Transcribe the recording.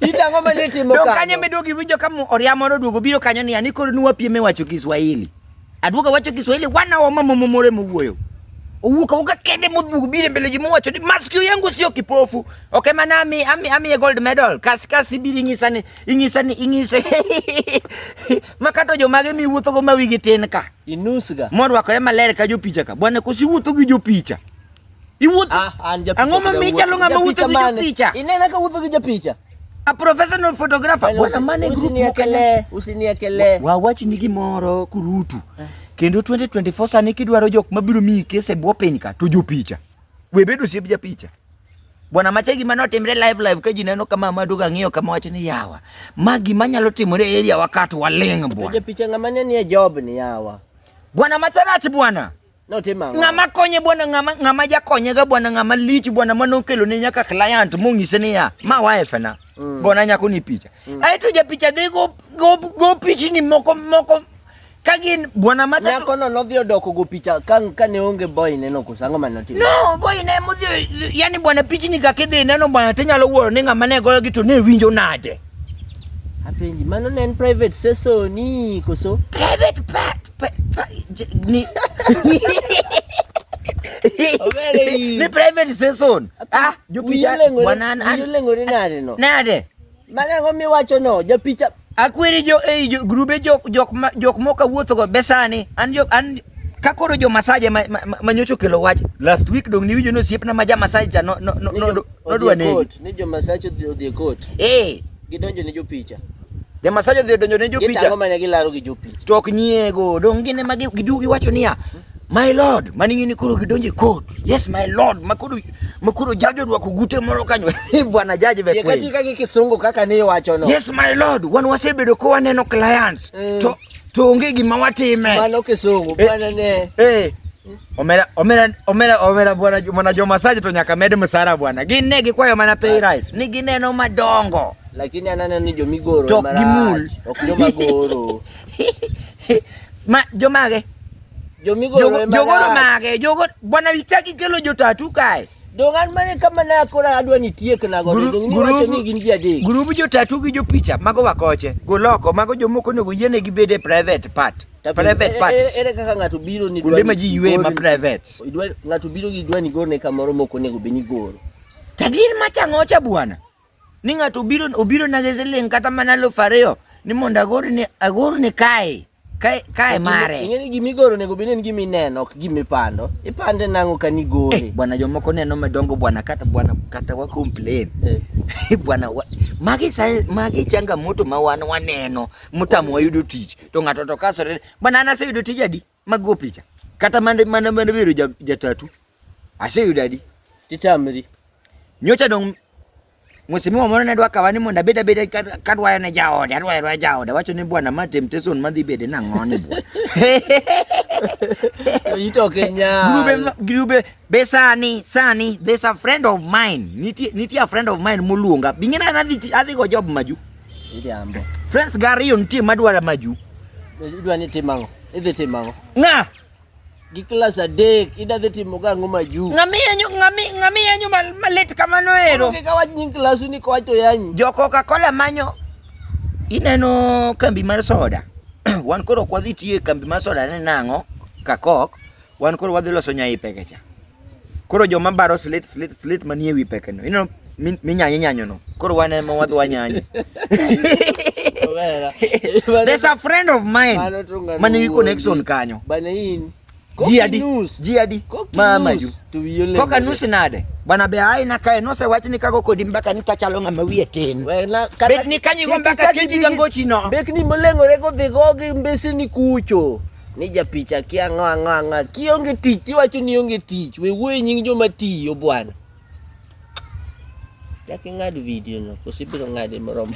Itang'o ma ne timo kanyo. Dong kanyo meduogo iwinjo ka oria moro duogo biro kanyo ni ani koro nuwa piem e wacho Kiswahili. Aduogo wacho Kiswahili wana wa mama momore mowuoyo. Owuka uka kende modhugo biro mbele ji mowacho ni maskio yangu sio kipofu. Okay mana ami ami ami e gold medal. Kas kas ibiri ing'isa ni ing'isa ni ing'isa. Makato jo mage mi wuotho go ma wigi tin ka. Inusga. Morwakore maler ka jopicha ka. Bwana kusiwuotho gi jopicha. Iwuoth. Ah, an japicha. Ang'o ma kija micha wuotho. lunga ma wuotho Japicha gi mane? jopicha? Inena ka wuotho gi japicha. A professional photographer. Bwana, Bwana mane group mokanya. Usiniekelee, usiniekelee. wawachni gimoro kurutu kendo 2024 sani kidwaro jok mabiro miyi kes e bwo piny ka to jopicha we bedo osiep japicha bwana macha gima notimre live live ka ji neno kama maduga ng'iyo kama wacho ni yawa ma gima nyalo timore e area wakat waling' To bwana japicha ng'ama ne nie job ni yawa. bwana macha rach bwana Notimo ang'o? Ng'ama konye bwana, ng'ama ng'ama jakonyega bwana, ng'ama lich bwana, mane okelone nyaka client monyise niya, ma wifena, Mm. gona nyako ni picha. Aeto japicha dhi go, go, go pichni moko moko ka gin bwana macha to- Nyakono nodhi odoko go picha ka ka ne onge boy neno koso ang'o ma notimo? No, boy ne mudhi, yani bwana pichni kaka idhi neno bwana tinyalo wuoro ni ng'ama ne goyogi to ne winjo nade. Apenji, mano ne en private session ni koso? Private pa, pa, pa ni Ni private session. Ah, jopicha wanan an. Yulengore nade no? Nade? Mana ngo miwacho no, jopicha akwiri jo ei eh, jo, grube jok jok ma, jok moka wuotho go besani an jo an ka koro jo masaje ma, ma, ma, ma nyocho kelo wach last week dong niwinjo ni osiepna ma ja masaje cha no, no, no, no, Nodwa negi. Court, ni jomasach odhi odhi e court. Eh, Gidonjo ne jopicha. jomasach odhi odonjo ne Gitango jopicha mana gilaro gi jopicha. to ok nyiego. Dong' gin ema gi- giduogo giwacho niya, my lord, mani ng'ini koro gidonjo e court. Yes, my lord, ma koro ma koro jaji orwako gute moro kanyo. Bwana jaji be Ye kweli. katika gi kisungu kaka ni iwacho no. Yes, my lord, wan wasebedo ka waneno clients Mm. to to onge gima watime. Mano kisungu Eh. bwana ne. Eh, Omera omera omera omera bwana mwana Joma Saji to nyaka med msara bwana. Gin ne gikwayo mana pay rise. Ni gineno madongo. Lakini ananeno ni jomigoro to gimul. Ok joma goro. Ma jomage? Jomigoro ema. Jogoro mage? Jogo bwana witaki kelo jotatu kae. Dongan mane kama na kora adwa ni tiek na go dong ni wacho ni gin ji adek. Grubu jotatu gi jopicha mago wakoche. Goloko mago jomoko nego yiene gibede private part. private parts. Ere kaka ng'ato biro ni kuonde ma ji ywe ma private. Ng'ato biro gi dwani gorne kamoro ma ok onego bed ni goro. Tagir machang'o cha bwana. Ni ng'ato obiro obiro na siling kata mana elfu ariyo ni mondo agor ni agor ni kae. Kae kae mare. Ing'e ni gimi goro nego bini gimi neno ok gimi pando. Ipande nango ka ni gore. Eh, bwana jomoko neno madongo bwana kata bwana kata wa complain. Eh. bwana wa, magi sai magi changamoto ma wan waneno mutamo wayudo tich. to ng'ato to kasore bana an aseyudo tij adi mag go picha kata mane mane mane biro ja- jatatu aseyudo adi Titamri. nyocha dong mheshimiwa moro ne dwa kawa ni mondo abed abeda ka- kadwayo ne jaode adwayo adwaya jaode wacho ni bwana ma temptation madhi bede nang'oni bwana Itoke nya. Grube, ma- grube, be sani, sani, there's a friend of mine. Nitie, nitie a friend of mine moluonga. Bing'e na adhi, adhi go job maju. Iriambo. Friends gari yo nitie madwara maju. Idwa ni timango. Idhi timango. Ng'a? Gi klas adek ida dhi timo ga ang'o maju? Ng'ami yanyu ng'ami ng'ami yanyu malit kamano ero. Onge ka wach nying klasu ni kowach to yanyi. Jo Coca-Cola manyo ineno kambi mar soda. Wan koro kwadhi tiye kambi mar soda ne nang'o? Kakok. Wan koro wadhi loso nyaipe kecha. Koro joma baro slit slit slit manie wi pekeno. Ineno minyanyo nyanyo no. Koro wan ema wadhi wanyanyo. There's a friend of mine man nigi connection kanyo. Bana in. Ji adi? Ji adi? Mama ju. Koka nus nade? Bana be ai na kae nose wach ni kago kodi mbaka ni kachalo ng'ama wiye tin. Bet ni kanyi go mbaka kidi gangochi no. Bet ni molengore go dhigo gi mbese ni kucho. Ni japicha kia ang'o ang'o ang'o. Kionge tich tiwacho ni onge tich. We wuoye nying joma tiyo bwana. Chak ing'ad video no. Koso ibiro ng'ade moromo.